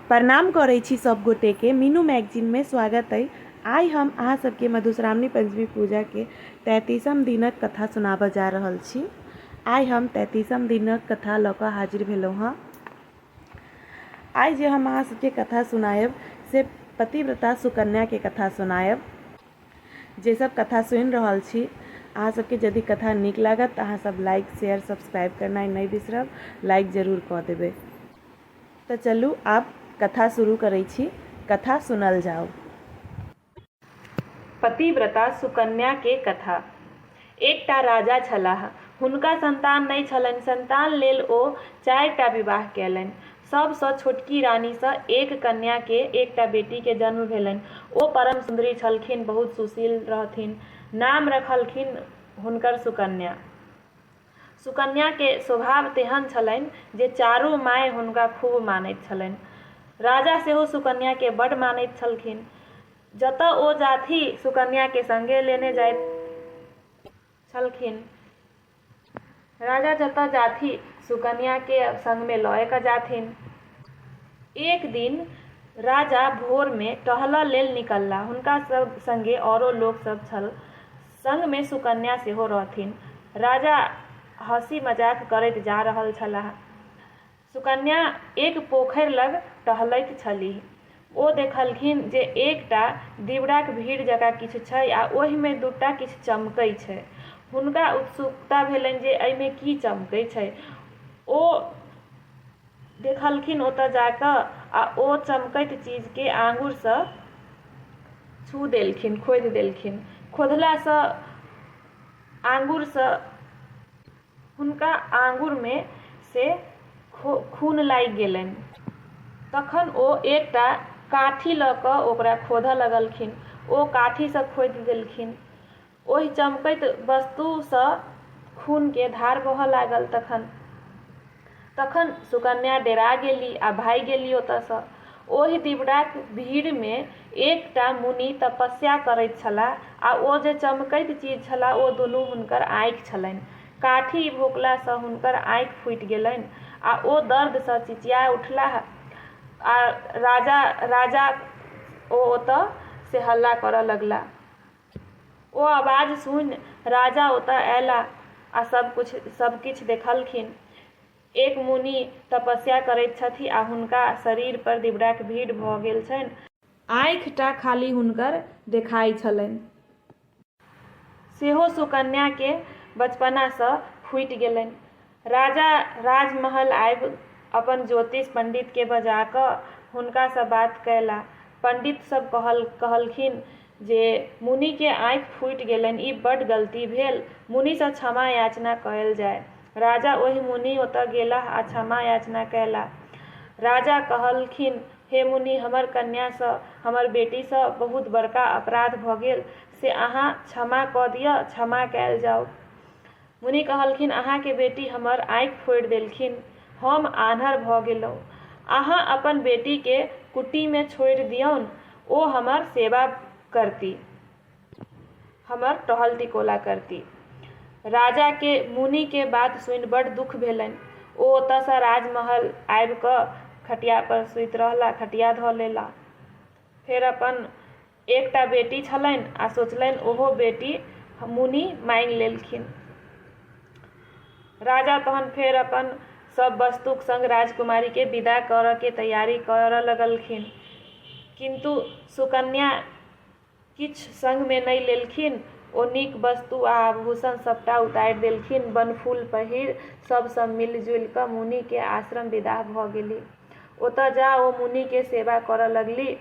प्रणाम करै छी सब गोटे के मीनू मैगजीन में स्वागत अइ आइ हम अहाँ सबके मधुश्रावणी पंचमी पूजा के तैतीसम दिनक कथा सुनाबऽ जा रहल छी आइ हम तैतीसम दिनक कथा लऽ कऽ हाजिर भेलहुँ हँ आइ जे हम अहाँ सबके कथा सुनायब से पतिव्रता सुकन्या के कथा सुनायब जे सब कथा सुनि रहल छी अहाँ सबके यदि कथा नीक लागत तऽ अहाँ सब लाइक शेयर सब्सक्राइब करनाइ नहि बिसरब लाइक जरूर कऽ देबै तऽ चलू आब कथा शुरू करै छी कथा सुनल जाउ पतिव्रता सुकन्या के कथा एकटा राजा छलाह हुनका संतान नहि छलनि संतान लेल ओ चारि टा विवाह कयलनि सब सँ छोटकी रानी सँ एक कन्या के एकटा बेटी के जन्म भेलनि। ओ परम सुन्दरी छलखिन, बहुत सुशील रहथिन। नाम रखलखिन हुनकर सुकन्या। सुकन्या के स्वभाव तेहन छलनि जे चारू माय हुनका खूब मानैत छलनि। राजा सेहो सुकन्या के बड मानैत छलखिन। जतऽ ओ जाथि सुकन्या के संगे लेने जाइथि। छलखिन। राजा जतऽ जाथि सुकन्या के संग मे लए कऽ जाथिन। एक दिन राजा भोर मे टहलऽ लेल निकलला। हुनका संगे औरो लोक सब छल। संग मे सुकन्या सेहो रहथिन। राजा हँसी-मजाक करैत जा रहल छलाह। सुकन्या एक पोखरि लग टहलैत छलीह। ओ देखलखिन जे एक टा दीवडाक भीड़ जकाँ किछु छै आ ओहि मे दू टा किछु चमकै छै। हुनका उत्सुकता भेलनि जे एहि मे की चमकै छै। ओ देखलखिन ओतय जा कऽ आ ओ चमकैत चीज केँ आँगुर सँ छू देलखिन, खोधि देलखिन। खोधला सँ आँगुर सँ। हुनका आँगुर मे से खून लागि गेलनि। तखन ओ एकटा काठी लऽ कऽ ओकरा खोधऽ लगलखिन। ओ काठी सँ खोधि देलखिन। ओहि चमकैत वस्तु सँ खून के धार बहऽ लागल। तखन। तखन सुकन्या डेरा गेलि आ भागि गेलि ओतयसँ। ओहि दिवडाक भीड़मे एक टा मुनि तपस्या करैत छलाह आ ओ जे चमकैत चीज छलाह ओ दुनू हुनकर आँखि छलनि। काठी भोंकलासँ हुनकर आँखि फूटि गेलनि आ ओ दर्दसँ चिचिया उठलाह आ राजा, राजा ओ ओतय से हल्ला करय लगलाह। ओ आवाज सुनि राजा ओतय अयलाह आ सभ किछु देखलखिन। एक मुनि तपस्या करैत छथि आ हुनका शरीर पर दिबराक भीड़ भ गेल छनि। आँखि टा खाली हुनकर देखाइ छलनि। सेहो सुकन्या के बचपना सँ फूटि गेलनि। राजा राजमहल आबि अपन ज्योतिष पंडितकेँ बजा कऽ हुनकासँ बात कयला। पंडित सभ कहलखिन जे मुनिकेँ आँखि फूटि गेलनि, ई बड गलती भेल। मुनिसँ क्षमा याचना कयल जाय। राजा ओहि मुनि ओतय गेलाह आ क्षमा याचना कयला। राजा कहलखिन हे मुनि हमर कन्यासँ, हमर बेटीसँ बहुत बड़का अपराध भऽ गेल से अहाँ क्षमा कऽ दिअ। क्षमा कयल जाउ। मुनि कहलखिन, अहाँके बेटी हमर आँखि फोड़ि देलखिन। हम आन्हर भऽ गेलहुँ। अहाँ अपन बेटीके कुटीमे छोड़ि दियौन। ओ हमर सेवा करती। हमर टहल-टिकोला करती। राजाके मुनिके बात सुनि बड्ड दुख भेलनि। ओ ओतऽसँ राजमहल आबि कऽ खटियापर सुति रहला। खटिया धऽ लेला। फेर अपन। एकटा बेटी छलनि आ सोचलनि ओहो बेटी मुनि मांगि लेलखिन राजा तहन फेर अपन सब वस्तुक संग राजकुमारी के विदा करऽ के तैयारी करऽ लगलखिन किंतु सुकन्या किछु संग में नहीं लेलखिन ओ नीक वस्तु आ आभूषण सबटा उतारि देलखिन बनफूल पहिर सब सब मिलजुलि कऽ मुनि के आश्रम विदा भऽ गेली ओतऽ जा ओ मुनि के सेवा करऽ लगली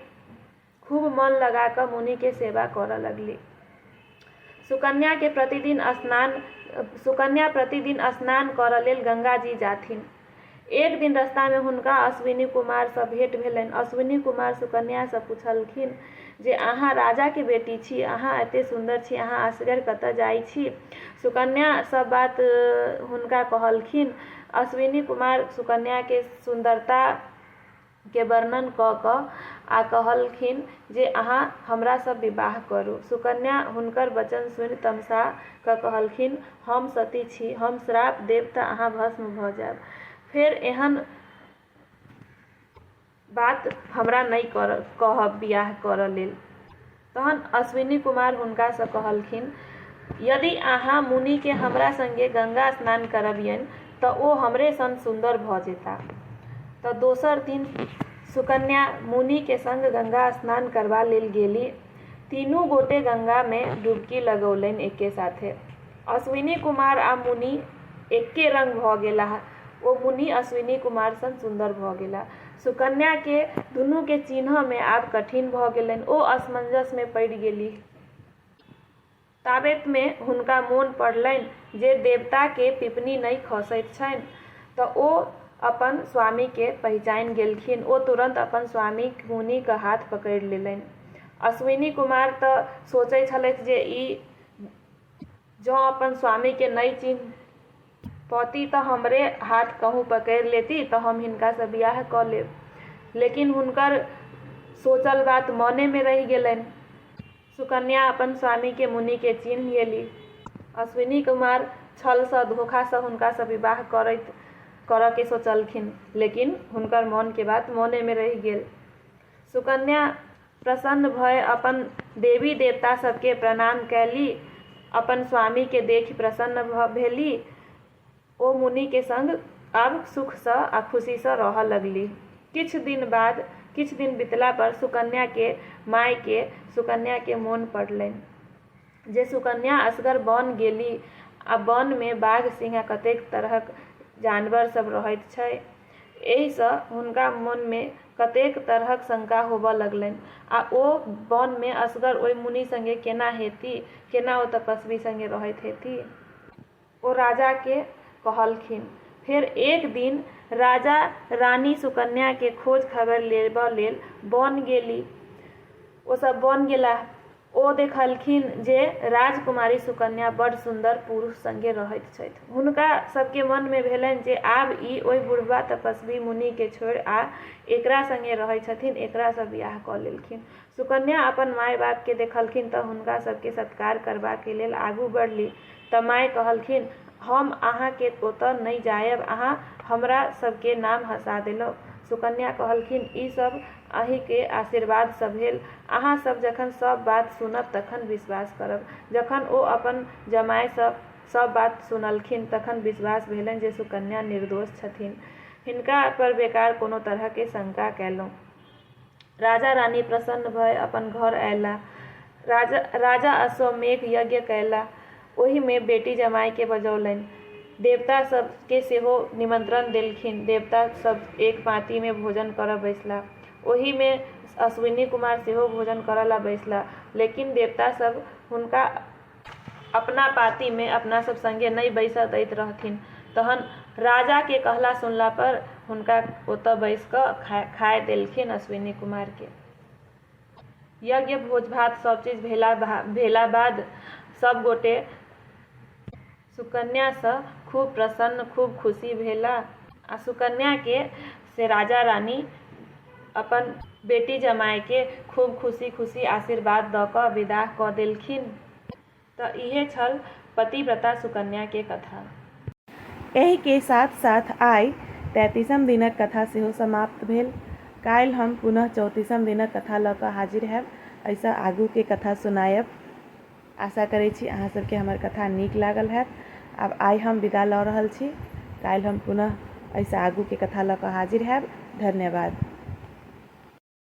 खूब मन लगा कऽ मुनि के सेवा करऽ लगली। सुकन्या के प्रतिदिन स्नान सुकन्या प्रतिदिन स्नान करऽ लेल गंगा जी जाथिन। एक दिन रस्ता में हुनका अश्विनी कुमार सँ भेंट भेलनि। अश्विनी कुमार सुकन्या सँ पुछलखिन जे अहाँ राजा के बेटी छी, अहाँ एते सुन्दर छी, अहाँ असगर कतऽ जाइ छी? सुकन्या सब बात हुनका कहलखिन। अश्विनी कुमार सुकन्या के सुन्दरता। के वर्णन कऽ कऽ आ कहलखिन जे अहाँ हमरा सँ विवाह करू। सुकन्या हुनकर वचन सुनि तमसा कऽ कहलखिन, हम सती छी, हम श्राप देब तँ अहाँ भस्म भऽ जाएब। फेर एहन बात हमरा नहि कहब बिआह करऽ लेल। तहन अश्विनी कुमार हुनका सँ कहलखिन, यदि अहाँ मुनि केँ हमरा संगे गंगा स्नान करबियनि त ओ हमरे सन सुन्दर भ जेताह। त दोसर दिन सुकन्या मुनि केँ संग गंगा स्नान करबा लेल गेलि। तीनू गोटे गंगा मे डुबकी लगौलनि एके साथे। अश्विनी कुमार आ मुनि एके रंग भ गेलाह। ओ मुनि अश्विनी कुमार सन सुन्दर भ गेलाह। सुकन्याकेँ दुनूकेँ चीन्हऽमे आब कठिन भऽ गेलनि। ओ असमंजसमे पड़ि गेलीह। ताबेतमे हुनका मोन पड़लनि जे देवताकेँ पिपनी नहि खसैत छनि। तँ ओ अपन स्वामीकेँ पहिचानि गेलखिन। ओ तुरन्त अपन स्वामीक मुनिक हाथ पकड़ि लेलनि। अश्विनीकुमार तँ सोचैत छलथि जे ई जँ अपन स्वामीकेँ नहि चीन्ह। पौती तँ हमरे हाथ कहूँ पकैड़ लेती तँ हम हिनकासँ बिआह कऽ लेब। लेकिन हुनकर सोचल बात मनेमे रहि गेलैन। सुकन्या अपन स्वामीकेँ मुनिकेँ चीन्ह गेली। अश्विनी कुमार छलसँ, धोखासँ हुनकासँ विवाह करैत करऽकेँ सोचलखिन। लेकिन हुनकर मनकेँ बात मनेमे रहि गेल। सुकन्या प्रसन्न भए अपन देवी-देवता सभकेँ प्रणाम कएलि। अपन स्वामीकेँ देखि प्रसन्न भऽ भेलि। ओ मुनिकेँ संग आब सुखसँ आ खुशीसँ रहऽ लगलि। किछु दिन बाद किछु दिन बितला पर सुकन्याकेँ माएकेँ सुकन्याकेँ मोन पड़लनि। जे सुकन्या असगर बन गेली आ बन मे बाघ सिंह आ कतेक तरहक जानवर सब रहैत छै। एहि सँ हुनका मन मे कतेक तरहक शंका होबऽ लगलनि। आ ओ बन मे असगर ओहि मुनि संगे केना हेती? केना ओ तपस्वी संगे रहैत हेती? ओ राजाकेँ कहलखिन। फेर एक दिन राजा रानी सुकन्याकेँ खोज-खबरि लेबऽ लेल बन गेली। ओ सभ बन गेलाह। ओ देखलखिन जे राजकुमारी सुकन्या बड्ड सुन्दर पुरुष संगे रहैत छथि। हुनका सभकेँ मनमे भेलनि जे आब ई ओइ बुढ़बा तपस्वी मुनिकेँ छोड़ि आ एकरा संगे रहैत छथिन। एकरा सँ बिआह कऽ लेलखिन। सुकन्या अपन माय-बापकेँ देखलखिन तँ हुनका सभकेँ सत्कार करबाक लेल आगू बढ़ली। त माय कहलखिन, हम अहाँ के ओतय नइ जायब, अहाँ हमरा सब के नाम हँसा देलौं। सुकन्या कहलखिन, ई सब अहीं के आशीर्वाद स भेल। अहाँ सब जखन सब बात सुनब तखन विश्वास करब। जखन ओ अपन जमाय स सब बात सुनलखिन तखन विश्वास भेलनि जे सुकन्या निर्दोष छथिन। हिनका पर बेकार कोनो तरह के शंका कयलौं। राजा-रानी प्रसन्न भए अपन घर अएला। राजा अश्वमेघ यज्ञ कएला। ओहि मे बेटी जमाय केँ बजौलनि। देवता सभ केँ सेहो निमंत्रण देलखिन। देवता सभ एक पाँती मे भोजन करय बैसला। ओहि मे अश्विनी कुमार सेहो भोजन करय ला बैसला। लेकिन देवता सभ हुनका अपना पाँतिमे अपनासभ सङ्गे नहि बैसय दैत रहथिन तहन राजाके कहला सुनलापर हुनका ओतय बैस कऽ खाय खाय देलखिन अश्विनी कुमारके यज्ञ भोज भात सभचीज भेला भा भेला बाद सभगोटे सुकन्या सँ खूब प्रसन्न खूब खुशी भेला। आ सुकन्या के से राजा रानी अपन बेटी जमाय के खूब खुशी खुशी आशीर्वाद द क विदाह क देलखिन। त इहे छल पतिव्रता सुकन्या के कथा। एहि के साथ साथ आइ तैंतीसम दिनक कथा सेहो समाप्त भेल। काल्हि हम पुनः चौतीसम दिनक कथा ल क हाजिर हैब। एहि सँ आगू के कथा सुनायब। आशा करै छी अहाँ सबके हमर कथा नीक लागल हैत आब आइ हम विदा लऽ रहल छी काल्हि हम पुनः एहिसँ आगूके कथा लऽ कऽ हाजिर हैब धन्यवाद